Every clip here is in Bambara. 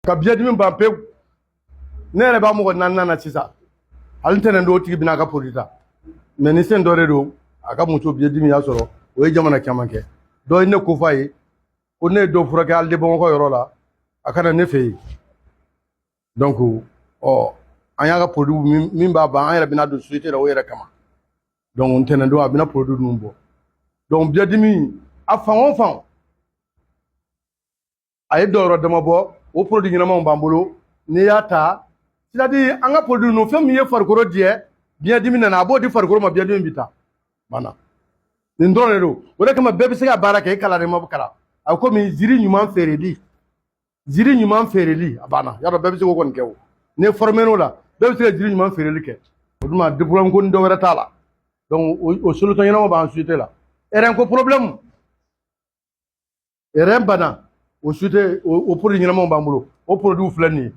ka biyɛdimi ban pewu ne yɛrɛ b'a mɔgɔ naaninan na sisan hali ntɛnɛn don o tigi bɛna a ka produit ta médecin dɔ de don a ka muso biyɛdimi y'a sɔrɔ o ye jamana caman kɛ dɔ ye ne ko f'a ye ko ne ye dɔ furakɛ hali de Bamakɔ yɔrɔ la a ka na ne fɛ yen donc ɔ an y'a ka produit min min b'a ban an yɛrɛ bɛna don société la o yɛrɛ kama donc ntɛnɛn don a bɛna produit ninnu bɔ donc biyɛdimi a fan o fan a ye dɔw yɔrɔ dama bɔ o produit ɲɛnamaw b'an bolo n'i y'a ta c'est-à-dire an ka produit ninnu fɛn min ye farikolo jɛ biɲɛdimi nana a b'o di farikolo ma biɲɛdimi bi ta banna nin dɔrɔn de don o de kama bɛɛ bɛ se ka baara kɛ i kalanna i ma kalan a bɛ komi jiri ɲuman feereli jiri ɲuman feereli a banna y'a dɔn bɛɛ bɛ se k'o kɔni kɛ o n'i formén'o la bɛɛ bɛ se ka jiri ɲuman feereli kɛ o tuma diplôme ko ni dɔ wɛrɛ t'a la donc o solution ɲɛnama b'an société la rein ko problème rein bana o société o produit ɲɛnamaw b'an bolo o produit filɛ nin ye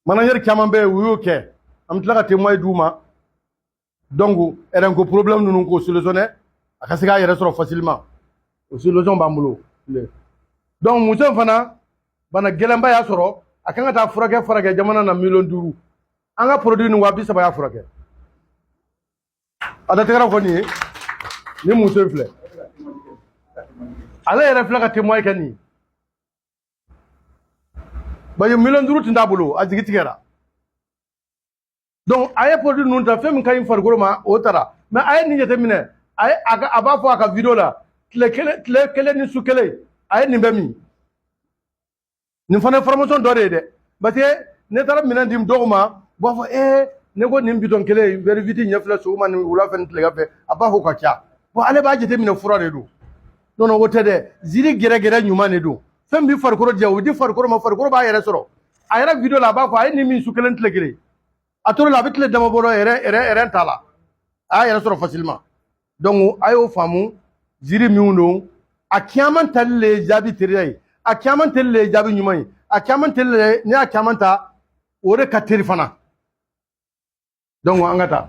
manager caman bɛ yen u y'o kɛ an bɛ tila ka témoin d'u ma donc rein ko problème ninnu k'o solutionner a ka se k'a yɛrɛ sɔrɔ facilement o solution b'an bolo donc muso in fana bana gɛlɛnba y'a sɔrɔ a ka kan ka taa furakɛ furakɛ jamana na miliyɔn duuru an ka produit nin waa bi saba y'a furakɛ A da tɛgɛra kɔni ye ni muso in filɛ ale yɛrɛ filɛ ka témoin kɛ nin bari miliyɔn duuru tun t'a bolo a jigi tigɛra donc a ye produit ninnu ta fɛn min ka ɲi farikolo ma o tara mais a ye nin jateminɛ a ye a b'a fɔ a ka video la tile kelen tile kelen ni su kelen a ye nin bɛɛ min nin fana ye formation dɔ de ye dɛ parce que ne taara minɛn di dɔw ma u b'a fɔ ee ne ko nin bitɔn kelen wɛri huit ɲɛ fila sɔgɔma ni wula fɛ ni tilegan fɛ a b'a fɔ k'a ka ca bon ale b'a jateminɛ fura de don non o tɛ dɛ jiri gɛrɛgɛrɛ ɲuman de don fɛn bɛ farikolo jɛ o bɛ di farikolo ma farikolo b'a yɛrɛ sɔrɔ a yɛrɛ video la a b'a fɔ a ye nin min su kelen tile kelen a tor'a la a bɛ tile dama bɔ yɛrɛ yɛrɛ yɛrɛ t'a la a y'a yɛrɛ sɔrɔ facilement donc a y'o faamu jiri minnu don a caman tali le ye jaabi teriya ye a caman tali le ye jaabi ɲuman ye a caman tali le ye n'i y'a caman ta o de ka teri fana donc an ka taa